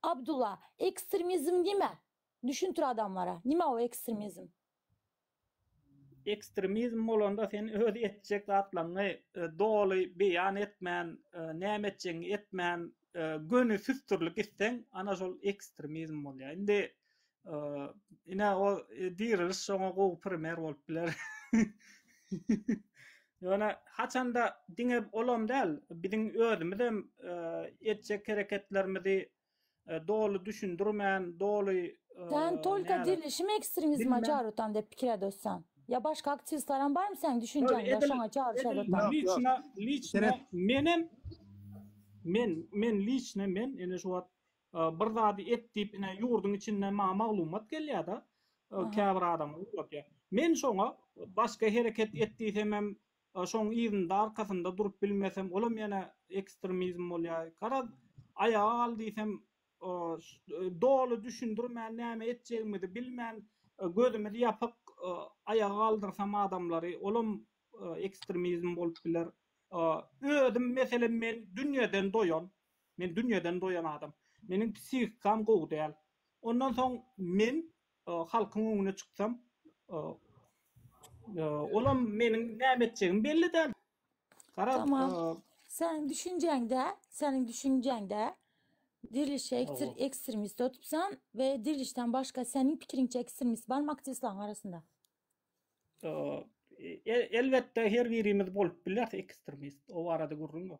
Abdulla, ekstremizm nime? Düşündir adamlara, nime o ekstremizm? Ekstremizm bolanda sen öz etjek zatlaňňy doly beýan etmän, näme etjegiňi etmän, göni süsdürlik isseň, ana şol ekstremizm bolýar. Indi Ine o e, diriliş şoňa gowy primer bolup biler. Ýöne haçanda diňe olam däl, biziň özümiz hem e, etjek hereketlerimizi e, doly düşündirmän, doly e, Sen tolka näler- dirilişim ekstremizme Bilmem. çarytan dep pikir edosan. Ya başka aktivistler hem barmy sen düşüncen ya şoňa çaryş Yok, edosan. yok. Liçna, liçna Seret. menem men men liçna men ene şu wagt Bir zady et diýip ine ýurduň içinde maňa maglumat gelýärda käbir adamlar ugratýar. Men şoňa başga hereket et diýsemem şoň yzynda arkasynda durup bilmesem olam ýene ekstremizm bolýar. Garaz aýaga gal diýsem doly düşündirmän näme etjegimizi bilmän gözümiz ýapyk aýaga galdyrsam adamlary olam ekstremizm bolup biler. Özüm meselem men dünýeden doýan Men dünýeden doýan adam. Meniň psihikam gowy däl. Ondan soň men halkyň öňüne çyksam, olam meniň näme etjegim belli däl. Tamam. Seniň düşünjäňde, seniň düşünjäňde Dirilişe ekstremist otupsan we Dirilişden başga seniň pikiriňçe ekstremist barmy aktiwistlaň arasynda? Elbetde her birimiz bolup bileris ekstremist. O barada gürrüň ýok.